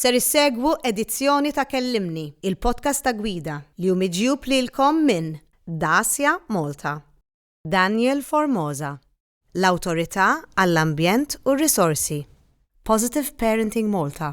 Ser issegwu edizzjoni ta' Kellimni, il-podcast ta' gwida li hu miġjub lilkom minn Dacia Malta, Daniel Formosa, l-Awtorità għall-Ambjent u r-Risorsi, Positive Parenting Malta,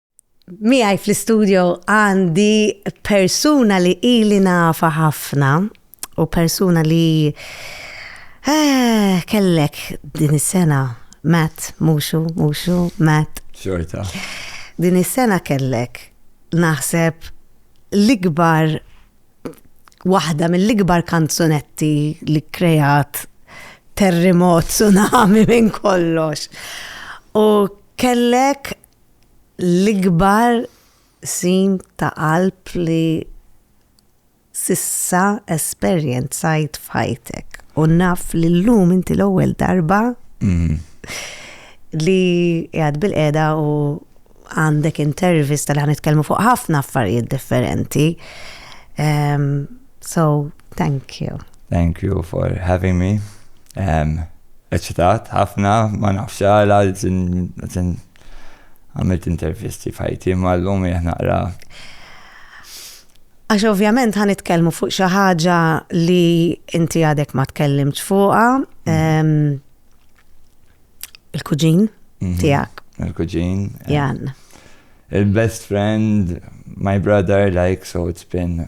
Miegħi fl-istudio għandi persuna li ili nafa ħafna u persuna li eh, kellek din is-sena Matt, muxu, muxu, Matt. Xorta. Din is-sena kellek naħseb l-ikbar waħda mill-ikbar kanzunetti li krejat terremot, tsunami minn kollox. U kellek l-ikbar qsim ta' qalb li s'issa esperjenzajt f'ħajtek u naf li llum inti l-ewwel darba li qiegħed bilqiegħda u għandek intervista li ħa nitkellmu fuq ħafna affarijiet differenti. So, thank you. Thank you for having me. Eċitat ħafna, ma nafx għala, għamilt intervisti f'ħajti mal-lum jieħ naqra. Għax ovvjament ħan itkellmu fuq xi ħaġa li inti għadek ma tkellimx fuqha. Mm. Il-kuġin mhm. tiegħek. Il-kuġin. Eh. Jan. Il-best friend, my brother, like, so it's been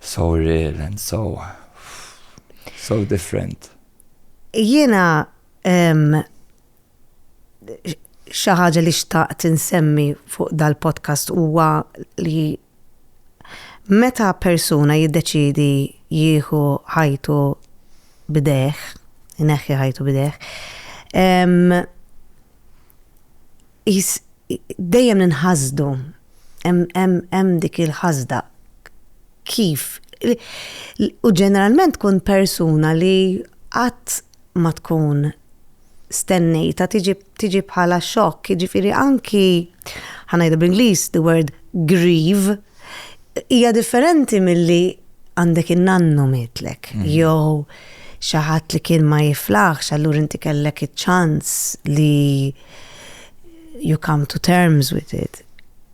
So real and so, so different. Jiena xi ħaġa li xtaqt insemmi fuq dal-podcast huwa li meta persuna jiddeċidi jieħu ħajtu bideħ, neħħi ħajtu bideħ, Qis dejjem ninħasdu, hemm dik il-ħasda kif u ġeneralment tkun persuna li qatt ma tkun stennejtha tiġi bħala xokk, jiġifieri anki ħa ngħidu bl-Ingliż the word grieve hija differenti milli għandek in-nannu mietlek jew xi ħadd li kien ma jiflaħx allura inti kellek iċ-ċans li, you come to terms with it.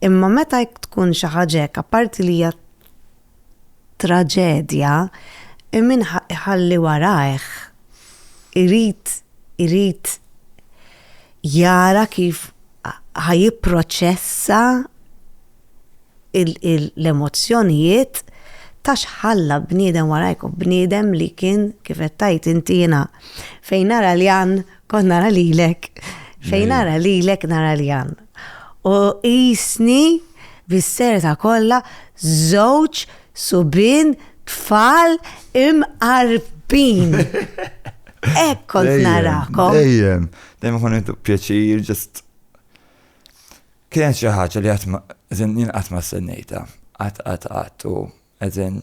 Imma meta tkun xi ħaġa hekk, apparti li hija traġedja, min ħalli warajh irid irid jara kif ħajipproċessa l-emozzjonijiet ta' xħalla bniedem warajk u bniedem li kien kif qed tgħid inti jiena fejn nara li għan Kon nara lilek. Fejn nara lilek nara li għan. U jisni bis-serta kollha żewġ subin tfal imqarbin. Ek kont narakom. Dejjem, dejjem kon intu pjaċir, ġest. Kienet xi ħaġa li qatt ma jien qatt ma sennejta. Qatt qatt qatt u eżin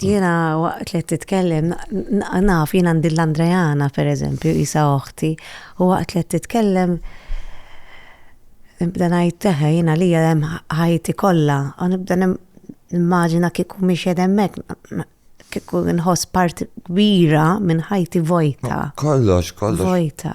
Jena waqt li titkellem, naf jena għandi l-Andrejana per eżempju, jisa oħti, u waqt li titkellem, nibda najt teħe jena li jem ħajti kolla, u nibda nimmaġina kiku miex jedemmek, kiku nħos parti kbira minn ħajti vojta. Kollox, kollox. Vojta.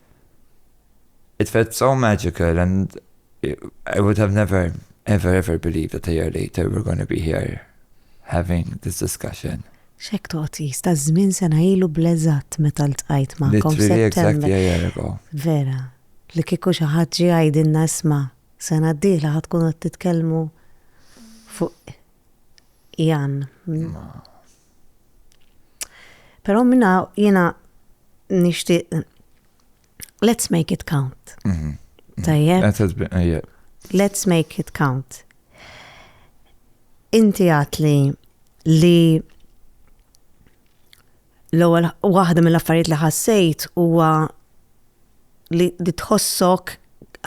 It felt so magical and I would have never ever ever believed that a year later we're going to be here having this discussion. Xek toqti, sta żmien sena ilu bleżat meta l-tqajt ma' kom September. Vera, li kiku xaħat ġi għajdinna isma, sena d-dihla ħatkun għat titkelmu fuq Jan. Però minna jiena nixtieq let's make it count. Mhm. Tajjeb. Let's make it count. Inti għatli li l-ewwel waħda mill-affarijiet li ħassejt huwa li tħossok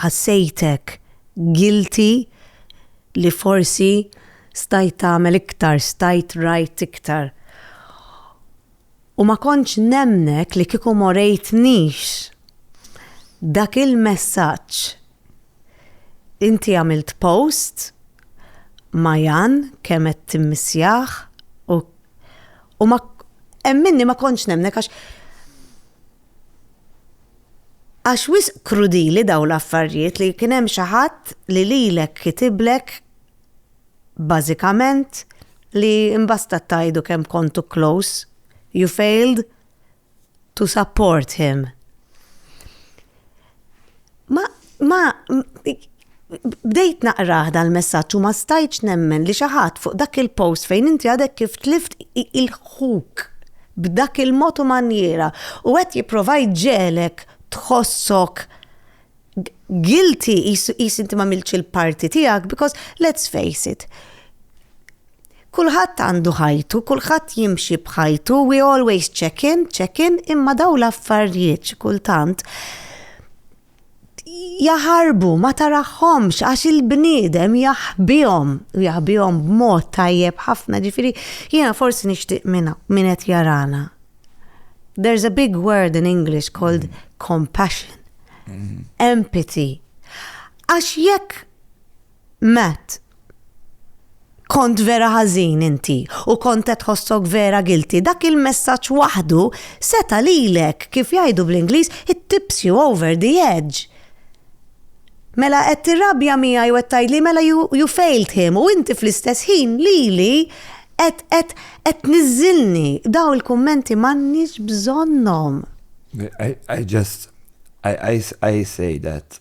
ħassejtek guilty li forsi stajt tagħmel iktar, stajt rajt iktar. U ma kontx nemmnek li kieku m'orejtnix dak il-messaġġ. Inti għamilt post ma' Jan kemm qed timmissjah u ma hemm minni ma kontx nemmnek għax Għax wisq krudili dawn l-affarjiet li kien hemm xi ħadd li lilek kitiblek bażikament li mbastat tgħidu kemm kontu close, you failed to support him. Ma, ma, bdejt naqraħ dal-messaġġ u ma stajtx nemmen li xi ħadd fuq dak il-post fejn inti għadek kif tlift il-ħuk b'dak il-mod u manjiera u qed jipprova jġegħlek tħossok guilty qis inti m'għamiltx il-parti tiegħek because let's face it, Kulħadd għandu ħajtu, kulħadd jimxi b'ħajtu, we always check in, check in, imma daw l-affarijiet xi kultant jaħarbu ma taraħħomx għax il-bniedem jaħbihom u jaħbihom b'mod tajjeb ħafna ġifiri jiena forsi nixtieq minna min qed jarana. There's a big word in English called compassion, mm-hmm. empathy. Għax jekk Matt, Kont vera ħażin inti u kont qed tħossok vera guilty. Dak il-messaġġ waħdu seta' lilek, kif jgħidu bl-Ingliż, it tips you over the edge. Mela qed tirrabja miegħi u qed tgħidli mela you, you failed him u inti fl-istess ħin lili qed qed qed tniżżilni. Daw il-kummenti m'għandniex bżonnhom. I, I just, I, I, I say that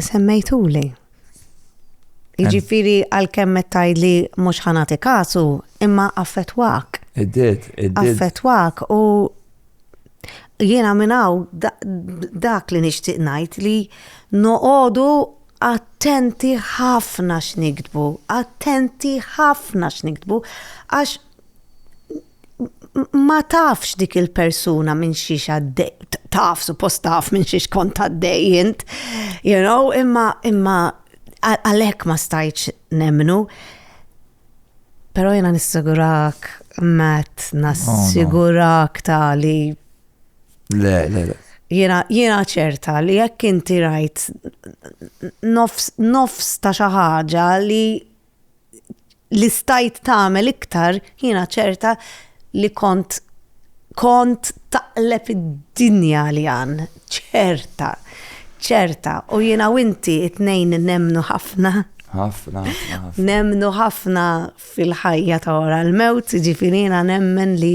Semmejtuli. Jiġifieri għalkemm qed tgħidli mhux ħanati kasu, imma affettwak. Iddid, iddid. Affettwak u jiena minn hawn dak li nixtieq ngħid li noqogħdu attenti ħafna x'niktbu, attenti ħafna x'niktbu għax ma tafx dik il-persuna minn xiex għaddej, taf, suppost taf minn xiex kont għaddej jint, you know, imma, imma, għalek ma stajċ nemnu. Pero jena nissigurak, Matt, nassigurak oh, ta' li. Le, le, le. Jena, jena ċerta li jekk inti rajt nofs, nofs ta' xaħġa li li stajt tagħmel iktar jiena ċerta li kont kont taqleb id-dinja li għan ċerta ċerta u jiena u inti it-tnejn nemmnu ħafna ħafna nemmnu ħafna fil-ħajja ta' wara l-mewt ġifieri jiena nemmen li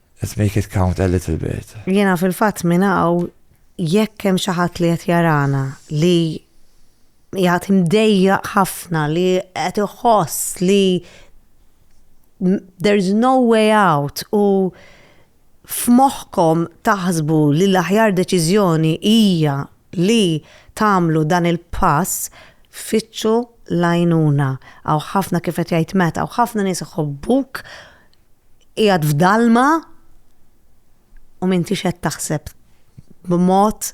Let's make it count a little bit. Jiena fil-fatt minn hawn jekk hemm xi ħadd li qed jarana li jgħat imdejja ħafna li qed iħoss li there's no way out u f'moħħkom taħsbu li l-aħjar deċiżjoni hija li tagħmlu dan il-pass fittxu l-għajnuna. Għaw ħafna kif qed jgħid Matt, għaw ħafna nies iħobbuk qiegħed f'dalma u m'intix qed taħseb b'mod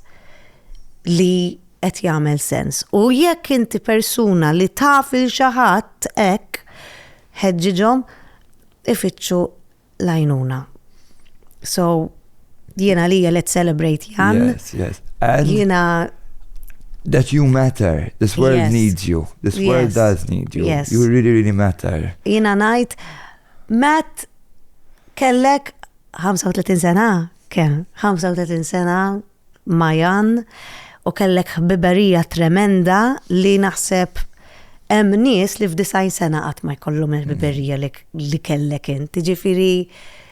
li qed jagħmel sens. U jekk inti persuna li taf il xi ħadd hekk ħeġġiġhom ifittxu l-għajnuna. So, Jien għalija let's celebrate Jan. Yes, yes. And Jina that you matter. This world yes. needs you. This yes. world does need you. Yes. You really, really matter. Jina najt, Matt, kellek 35 sena, ken, 35 sena, Majan, u kellek biberija tremenda li naħseb hemm nies li f'disajn sena qatt ma jkollhom il-biberija li kellek inti. Ġifieri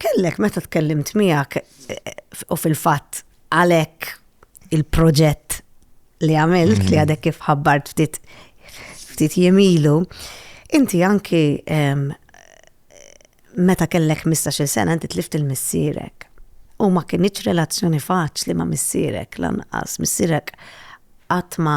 kellek meta tkellimt miegħek u fil-fatt għalhekk il-proġett li għamilt li mm-hmm. għadek kif ħabbart ftit ftit jemilu, inti anki meta kellek 15 sena inti tlift il-missierek. U ma kienieċ relazzjoni faċli ma missierek lanqas, missierek għatma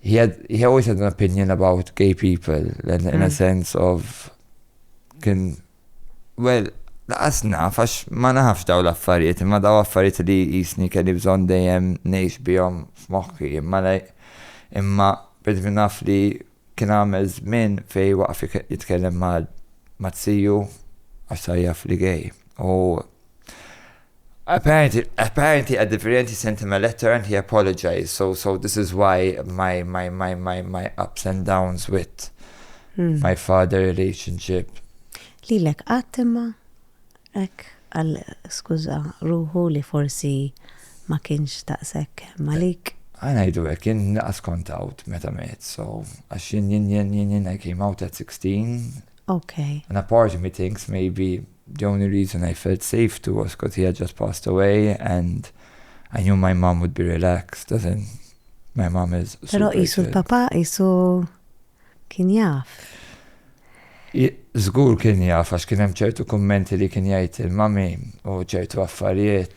he had he always had an opinion about gay people in, in mm. a sense of kien well laqas naf għax ma nafx daw l-affarijiet imma daw affarijiet li jisni kelli bżonn dejjem ngħix bihom f'moħħi imma lej imma bid naf li kien għamel żmien fej waqf jitkellem ma' tziju għax tajjaf li gay u Apparently a differenti sentiment letter and he apologised so so this is why my my my my my ups and downs with hmm. my father relationship. Lilek qatt imma hekk għal skuża ruħu li forsi ma kienx taqsek malik. Għana jdu għek, jien naqas kont out meta met, so għax jien jien jien jien jien I came out at 16. Okay. And apart me things maybe The only reason I felt safe to was cos he had just passed away and I knew my mom would be relaxed as in my mom is super Pero qisu l-papa qisu kien jaf. Żgur kien jaf għax kien hemm ċertu kummenti li kien jgħid il-mami u ċertu affarijiet.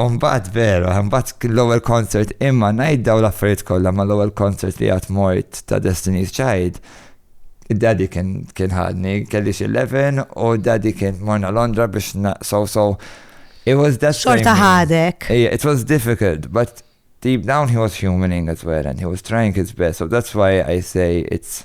U mbagħad vera, mbagħad kien l-ewwel concert imma ngħid dawn l-affarijiet kollha ma l-ewwel concert li għad mort ta' Destiny's Child. Daddy kien kien ħadni, kelli xi 11 u daddy kien morna Londra biex so so it was that Xorta ħadek. It was difficult, but deep down he was humaning as well and he was trying his best. So that's why I say it's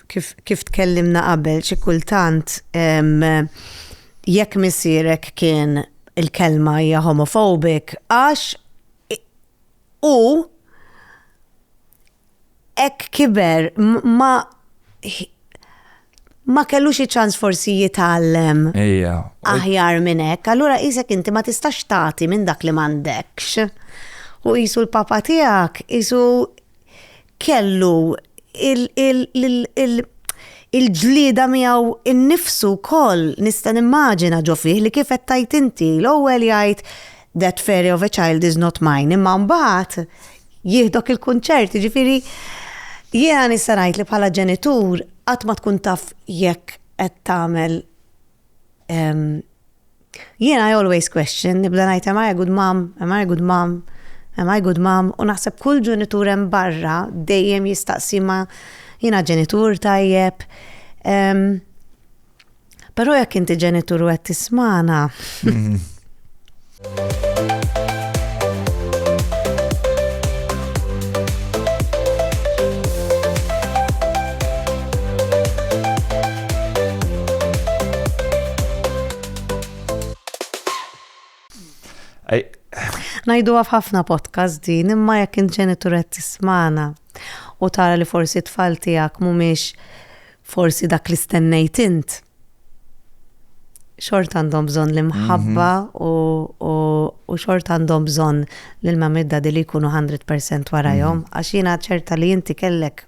Kif, kif tkellimna qabel, xi kultant jekk misierek kien il-kelma hija homophobic għax hu hekk kiber ma ma kellu xi ċans forsi jitgħallem aħjar minn hekk, allura qisek inti ma tistax tagħti minn dak li m'għandekx. U qisu l-papa tiegħek qisu kellu l-ġlieda miegħu nnifsu wkoll nista' nimmaġina ġo fih li kif qed tgħid inti, l-ewwel jgħid that fairy of a child is not mine imma mbagħad jieħdok il-kunċert, jiġifieri jiena nista' ngħid li bħala ġenitur qatt ma tkun taf jekk qed tagħmel Jiena I always question, nibda ngħid am I a good mom, am I a good mom, am I good mom u naħseb kull ġenitur hemm barra dejjem jistaqsi ma jiena ġenitur tajjeb. Um, Però jekk inti ġenitur u qed tismana. Mhm. Najdu għaf ħafna podcast din, imma jekk inġenitur qed tismana u tara li forsi tfal tiegħek mhumiex forsi dak li stennejt int. Xort għandhom bżonn l-imħabba mhm. u xort għandhom bżonn l-mamidda li jkunu 100% warajhom, mhm. għax jiena ċerta li inti kellek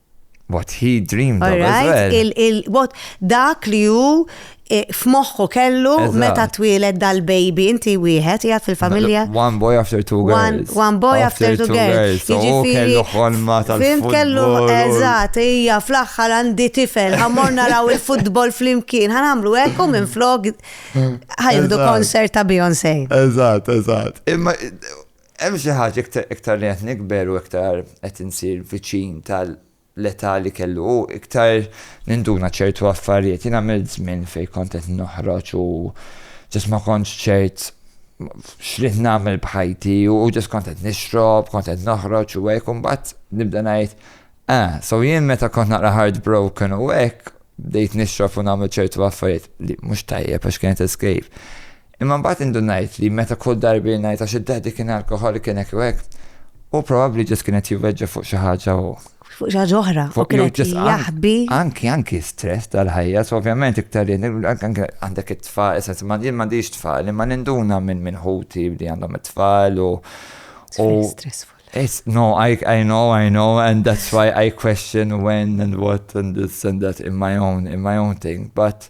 What he dreamed of as well. Dak li hu e, f'moħħu kellu meta twielet dal-baby, inti wieħed jgħat fil-familja. One boy after two girls. One boy after two girls. Kellu ħolma tal-futbol. Kellu, eżat, hija fl-axħar għandi tifel, għamor naraw il-futbol fl-imkien, għamlu ekku minn flog ħajdu konsert ta' Beyoncé. Eżat, eżat. Imma Hemm xi ħaġa iktar iktar li qed nikber u iktar qed insir viċin tal-età li kellu hu, iktar ninduna ċertu affarijiet. Jien għamilt żmien fejn kont qed noħroġ u ġust ma kontx ċert x'rid nagħmel b'ħajti u ġust kont qed nixrob, kont qed noħroġ u hekk u mbagħad nibda ngħid, ah, so jien meta kont naqra heartbroken u hekk bdejt nixrob u nagħmel ċertu affarijiet li mhux tajjeb għax kienet escape. Imma mbagħad indunajt li meta kull darba jien ngħid għax id-Daddy kien alkoħolic kien hekk jew hekk, hu probabbli just kien qed jivveġġa fuq xi ħaġa u. Fuq xi ħaġa oħra, u kien qed jaħbi. Anki, anki stress tal-ħajja, so ovvjament iktar li għandek it-tfal, is-sens ma jien m'għandix tfal, imma ninduna minn ħuti li għandhom it-tfal u. Stressful. No, I, I know, I know, and that's why I question when and what and this and that in my own, in my own thing, but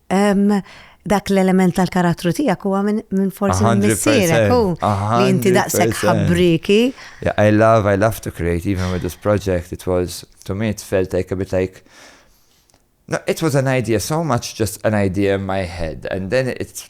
Dak l-element tal-karattru tiegħek huwa minn forsi minn missierek u li inti daqshekk ħabbriki. I love, I love to create, even with this project, it was, to me it felt like a bit like, no, it was an idea, so much just an idea in my head, and then it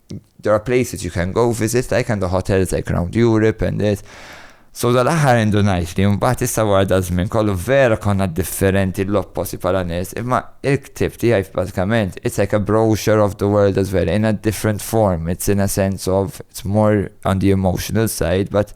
there are places you can go visit, like and the hotels like around Europe and this. So dal-aħħar għandu ngħid li mbagħad issa wara da żmien kollu vera konna differenti l-opposi bħala nies, imma il-ktib tiegħi bażikament it's like a brochure of the world as well in a different form, it's in a sense of it's more on the emotional side, but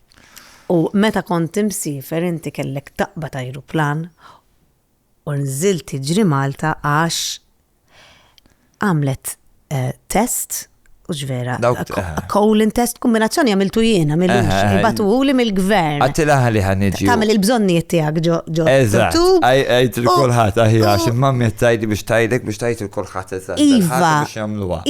U meta kont imsiefer inti kellek taqbad ajruplan u nżilt tiġri Malta għax għamlet test, hux vera, colon test, kombinazzjoni għamiltu jien, għamilux, ibatuhuli mill-gvern. Għattila ħalli ħa niġi. Tagħmel il-bżonnijiet tiegħek ġo ġo. Eżatt, għajt il-kulħadd aħjar għax il-mammi tajdi biex tajdek biex tajt il-kulħadd eżatt. Iva,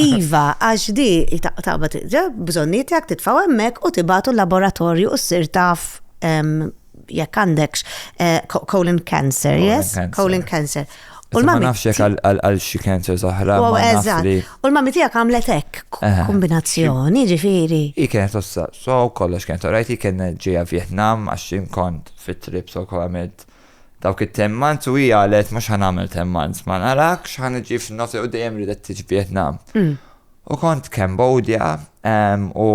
iva, għax di taqbad bżonnijiet tiegħek titfgħu hemmhekk u tibgħatu l-laboratorju u ssir taf jekk għandekx eh, colon cancer, yes? Colon cancer. U ma nafx jekk għal xi cancer zaħra. U l-mami tiegħek għamlet hekk kombinazzjoni, ġifieri. Hi kienet ossa, so kollox kienet orajt, hi kien ġejja Vietnam għax kont fit-trip so għamilt dawk it-temmanz u hija għalet mhux ħan għamil temmanz, ma narakx ħan iġi f'nofs u dejjem ridet tiġi Vietnam. Mm. U kont Cambodia u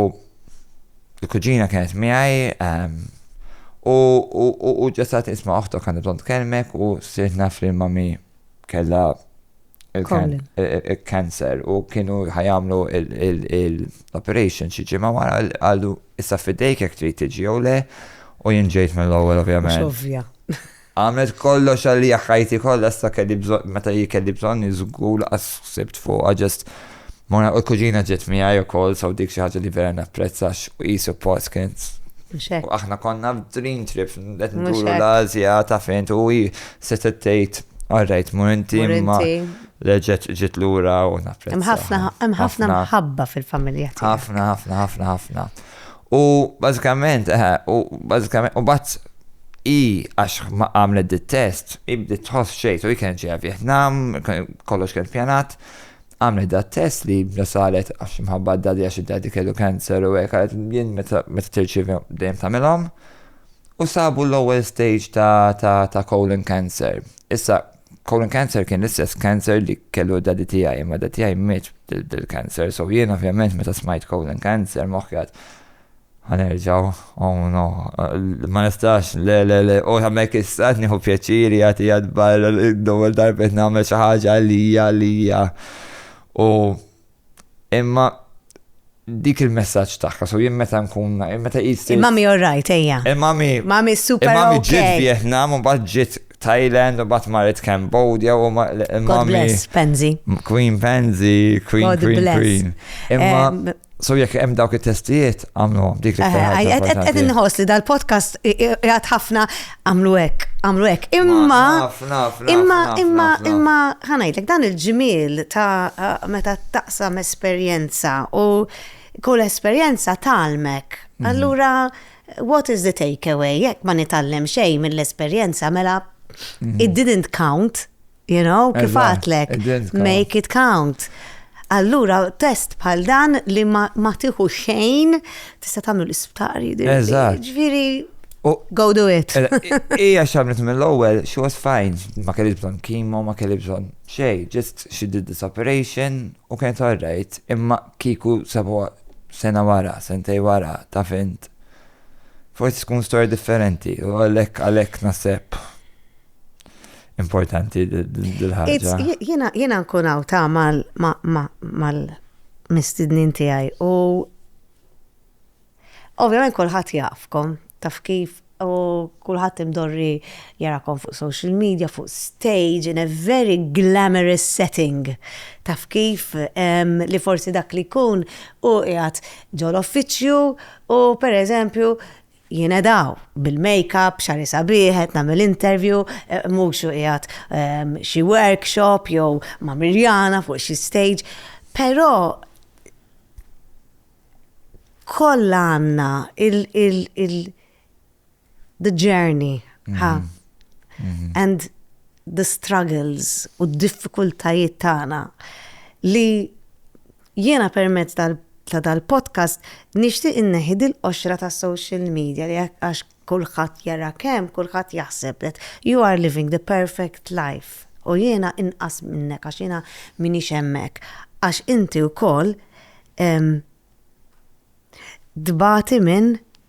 l-kuġina kienet miegħi u ġesat isma' oħtok għandu bżonn tkellmek u sirt naf li mami kellha il-kanser u kienu ħajamlu l-operation xi ġimgħa wara għallu issa fidejk jekk trid tiġi jew le u jinġejt mill-ewwel ovvjament. Ovvja. Għamilt kollox għalija ħajti kollha issa kelli bżonn meta hi kelli bżonni żgur laqas ħsibt fuqha just morna u l-kuġina ġiet miegħi ukoll so dik xi ħaġa li vera napprezza għax hi suppost kienet u aħna konna f'dream trip qed nduru l-Asja ta' fejn u hi se tgħid Alright, mur inti imma leġet ġit lura u napprezza. Hemm ħafna mħabba fil-familja tiegħek. Ħafna, ħafna, ħafna, ħafna. U bażikament, eħe, u bażikament, u mbagħad hi għax ma għamlet dit-test, hi bdiet tħoss xejn, u hi kienet ġejja Vjetnam, kollox kien pjanat, għamlet dat-test li bla saret għax imħabba d-dadi għax id-dadi kellu cancer u hekk għalet jien meta tirċievi dejjem tagħmilhom. U sabu l-ewwel stage ta' colon cancer. Issa Colon cancer kien l-istess cancer li kellu dadi tiegħi, imma dadi tiegħi miet bil-cancer, so jien ovvjament meta smajt colon cancer moħħjat ħanerġaw, oh no, ma nistax, le, le, le, u għamek istat nieħu pjaċiri għati għadbar, d-dowel darbet namel xaħġa għalija, għalija. U Imma dik il-messaġġ tagħha, so jien meta nkun meta qis. Il-mami all right ejja. Il-mami. Mami super. Il-mami ġiet Vietnam u mbagħad ġiet Thailand u mbagħad marret Cambodia u il-mami. God bless, Penzi. Queen Penzi, Queen Queen Queen. Imma So jekk hemm dawk it-testijiet għamlu dik li Qed inħoss li dal-podcast jgħat ħafna għamlu hekk, għamlu hekk. Imma imma imma imma ħanajtek dan il-ġmiel ta' meta taqsam esperjenza u kull esperjenza talmek. Mhm. Allura what is the takeaway? Jekk ma nitallem xejn mill-esperjenza mela mhm. it didn't count. You know, kif għatlek, make it count. Allura, test bħal dan li ma tiħu xejn, tista' tagħmlu l-isptari. Eżatt. Ġviri, go do it. Ija xamlet mill-ewwel, she was fine, ma kelli bżonn kimo, ma kelli bżonn xej, just she did this operation u kienet alright, imma kiku sabu sena wara, sentej wara, ta' fint. Forsi tkun storja differenti, u għalek għalek nasib. importanti dil-ħagġa. Jena nkun għaw ta' mal-mistidnin tijaj u ovvijament kolħat jafkom, taf kif u kulħadd imdorri jarakom fuq social media, fuq stage, in a very glamorous setting. Taf kif li forsi dak li kun u jgħat ġol offiċju u per eżempju Jiena daw, bil-makeup, xagħri sabiħ, qed nagħmel interview, mhux qiegħed xi workshop jew ma' Mirjana fuq xi stage. Però kollha għandna il-the journey, ha? And the struggles u d-diffikultajiet tagħna li jiena permezz tal ta' dal-podcast nixtieq inneħi dil-qoxra ta' social media li għax kulħadd jara kemm kulħadd jaħseb that you are living the perfect life u jiena inqas minnek għax jiena m'iniex hemmhekk għax inti wkoll tbati minn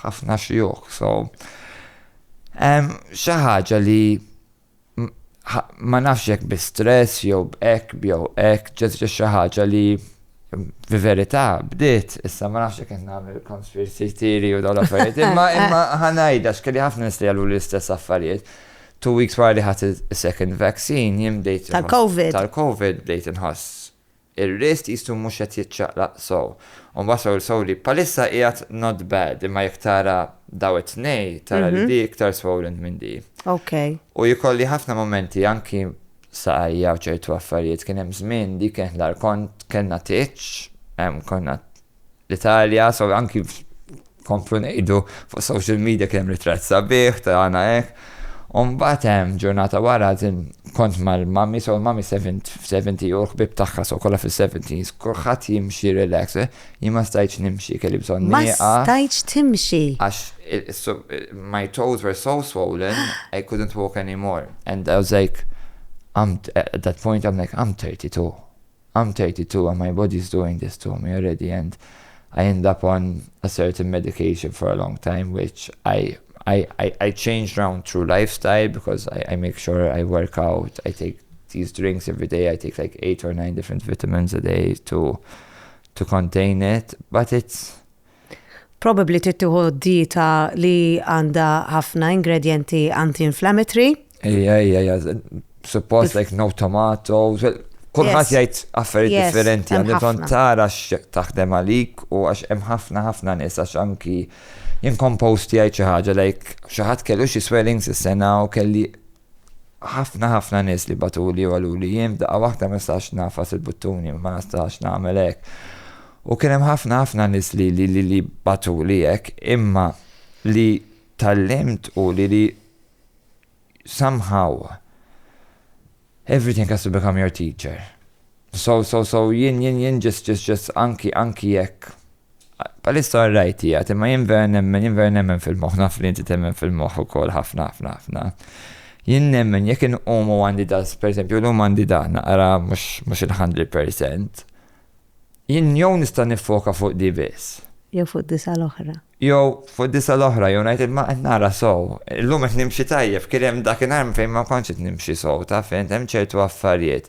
ħafna xjuħ, so hemm xi ħaġa li ma nafx jekk bi stress jew b'hekk jew hekk ġiet xi ħaġa li fi verità bdiet issa ma nafx jekk qed nagħmel konspirsi tiri u dawn affarijiet imma imma ħanajda x'kelli ħafna nies li għalu l-istess affarijiet. Two weeks wara li ħadd is-second vaccine jien bdejt tal-COVID. Tal-COVID bdejt inħoss Ir-riest qisu mhux qed jiċċaqlaq sew. U mbagħad Soul Soul li bħalissa qiegħed not bad imma jekk tara daw it-tnej tara li di iktar swollen minn di. U jkolli ħafna mumenti anki saqajja u ċertu affarijiet kien hemm żmien di kienet l-agħar kont kellna tieġ konna L-Italja, so anki nkomplu ngħidu fuq social media kien hemm ritratt sabiħ ta' għana hekk. U mbagħad hemm ġurnata wara din kont mal-mami, so l-mami 70 u l-ħbib tagħha so kollha fis-70s, kulħadd jimxi relax, eh, jien ma stajtx nimxi kelli bżonn Ma nieqa. stajtx timxi. Għax il- is- so- my toes were so swollen, I couldn't walk anymore. And I was like, I'm, at that point I'm like, I'm 32. I'm 32 and my body is doing this to me already and I end up on a certain medication for a long time which I I, I, I change round through lifestyle because I, I make sure I work out, I take these drinks every day, I take like eight or nine different vitamins a day to to contain it, but it's Probabbli trid tieħu dieta li għandha ħafna ingredjenti anti-inflammatory. Ejja, ejja, ejja, suppost like no tomatoes, Kulħadd jgħid affarijiet differenti, għandi ton tara x'jekk taħdem għalik u għax hemm ħafna ħafna nies għax anki jien kompost jgħid xi ħaġa like xi ħadd kellu xi swellings is-sena u kelli Ħafna ħafna nies li bagħtuli u qaluli jien f'daqqa waħda ma nistax ngħafas il-buttuni, ma nistax nagħmel hekk. U kien hemm ħafna ħafna nies li li li li bagħtuli hekk, imma li tgħallimt hu li li somehow everything has to become your teacher. So, so, so, jien, jien, jien, just, just, just, anki, anki jekk Bħalissa alright qiegħed, imma jien vera nemmen, jien vera nemmen fil-moħħ, naf li inti temmen fil-moħħ ukoll ħafna ħafna ħafna. Jien nemmen jekk inqum u għandi da, pereżempju llum għandi da naqra mhux il-hundred percent, jien jew nista' niffoka fuq di biss. Jew fuq disa' l-oħra. Jew fuq disa' l-oħra, jew ngħid imma qed nara sew. Illum qed nimxi tajjeb, kien hemm dakinhar fejn ma kontx qed nimxi sew, taf int, hemm ċertu affarijiet.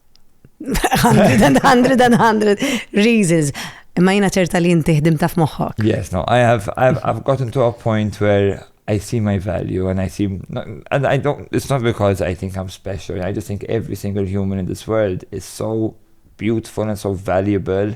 Hundred and hundred and hundred reasons. Imma jina ċerta li jinti ħdim taf moħħok. Yes, no, I have, I've, I've gotten to a point where I see my value and I see, and I don't, it's not because I think I'm special. I just think every single human in this world is so beautiful and so valuable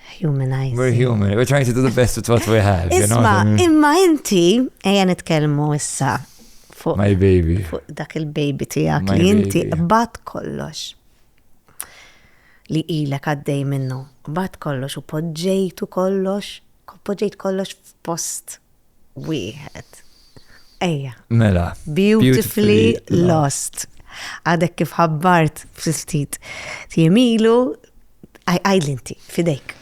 humanize. We're human, we're trying to do the best with what we have. Isma, imma inti, eja nitkelmu issa fuq. My baby. Fuq dak il-baby tijak li inti bat kollox li ilek għaddej minnu. Bat kollox u podġejtu kollox, podġejt kollox f'post wieħed. Ejja. Mela. Beautifully lost. Għadek kif ħabbart ftit jemilu, għajlinti, fidejk.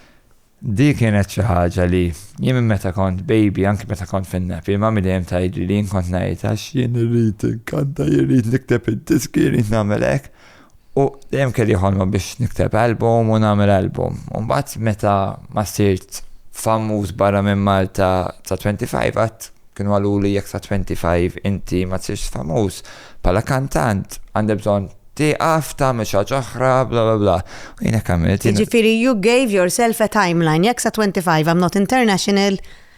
Di kienet xi ħaġa li jien meta kont baby, anki meta kont fin-napi, ma midejjem tajdi li jien kont ngħid għax jien irrid inkanta, irrid nikteb id-diski, irrid nagħmel hekk. U dejjem kelli ħolma biex nikteb album u nagħmel album. U mbagħad meta ma sirt famuż barra minn Malta ta' 25 għat kienu għaluli jekk ta' 25 inti ma tsirx famuż bħala kantant għandek bżonn tieqaf tagħmel xi ħaġa oħra bla bla bla. U jiena għamilt. Jiġifieri you gave yourself a timeline jekk sa 25 I'm not international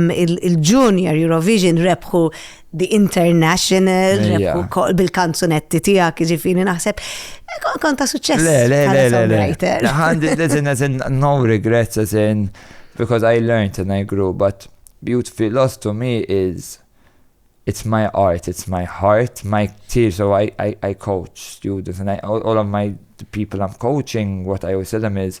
il-Junior Eurovision rebħu The International, rebħu bil-kanzunetti tijak, ġifini naħseb, kont ta' suċċess. Le, le, le, le, le. Għandi, listen, listen, no regrets, listen, because I learned and I grew, but beautiful loss to me is it's my art, it's my heart, my tears. So I, I, I coach students and I, all, all of my people I'm coaching, what I always tell them is,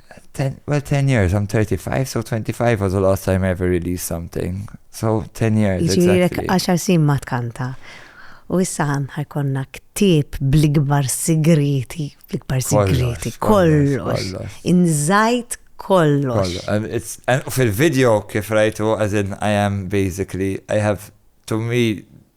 Ten, well, 10 years, I'm 35, so 25 was the last time I ever released something. So 10 years, Ġirek exactly. 10 sin ma tkanta. U issa ħanħar konna ktib bl-ikbar sigriti, bl-ikbar sigriti, kollox, inżajt kollox. Fil-video kif rajtu, as in I am basically, I have, to me,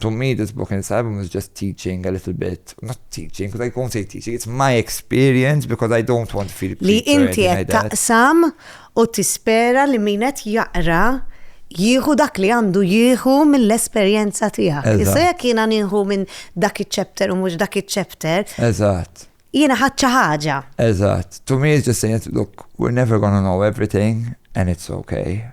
To me this book and this album is just teaching a little bit, not teaching, because I don't say teaching, it's my experience because I don't want to feel Li inti qed taqsam u tispera li min qed jaqra jieħu dak li għandu jieħu mill-esperjenza tiegħek. Issa jekk jiena nieħu minn dak iċ-chapter u mhux dak iċ-chapter. Eżatt. Jiena ħadd ħaġa. Eżatt. To me is just saying, look, we're never gonna know everything and it's okay.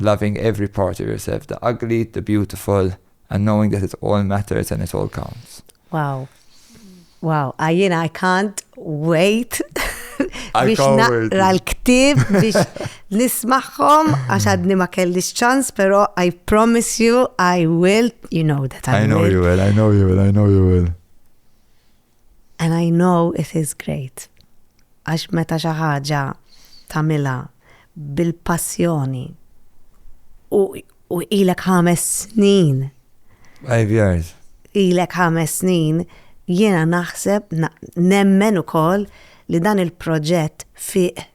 Loving every part of yourself, the ugly, the beautiful, and knowing that it all matters and it all counts. Wow. Wow, I, you know, I can't wait biex naqra l-ktib biex nismaħħom għax għadni ma kellix ċans, pero I promise you I will, you know that I, I will. I know you will, I know you will, I know you will. And I know it is great għax meta xi ħaġa tagħmilha bil-passjoni u ilek ħames snin. Five years. Ilek ħames snin jiena naħseb nemmen ukoll li dan il-proġett fih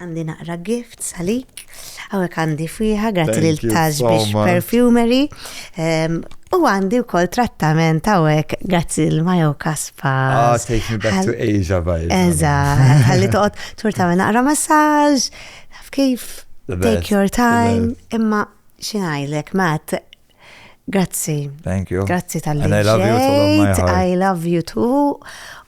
Għandi naqra gifts għalik. Hawnhekk għandi fwieħa grazzi lil Tax biex perfumery. Ehm, u għandi wkoll trattament hawnhekk grazzi l Majo Kaspa. Ah, take me back to Asia bajja. Eża, ħalli toqgħod tur tagħmel naqra massaġ, kif take your time, imma xinajlek, Matt, Grazzi. Thank you. Grazzi tal-li. I love you too. I love you too.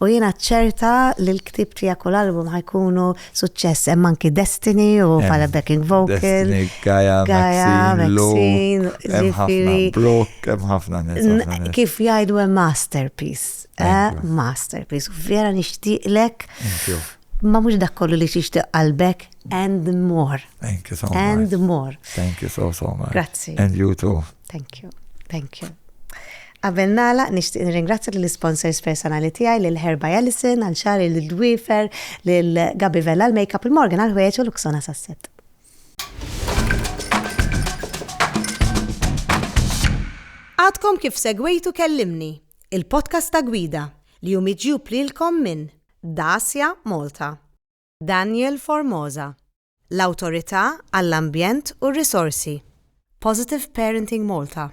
U jena ċerta li l-ktib tijak u l-album ħajkunu suċċess hemm anki Destiny u pala backing vocal. Destiny, Gaia, Gaia, Maxine, Zifiri. Brok, hemm ħafna nies. Kif jgħidu hemm masterpiece. Eh, masterpiece. Vera nixtieqlek. Thank you ma mhux dak kollu li tixtieq qalbek, And more. Thank you so much. And more. Thank you so, so much. Grazzi. And you too. Thank you. Thank you. Qabel nala, nishtiq nirringrazzja l sponsors personali tiegħi lil Herba Jellison, għal xari lil Dwifer, lil Gabi Vella l-makeup il-Morgan għal ħwejġ u l-Uksona Sasset. Għadkom kif segwejtu kellimni, il-podcast ta' gwida li jumiġju plilkom minn Dacia Malta. Daniel Formosa, l-Awtorità għall-Ambjent u r-Risorsi, Positive Parenting Malta.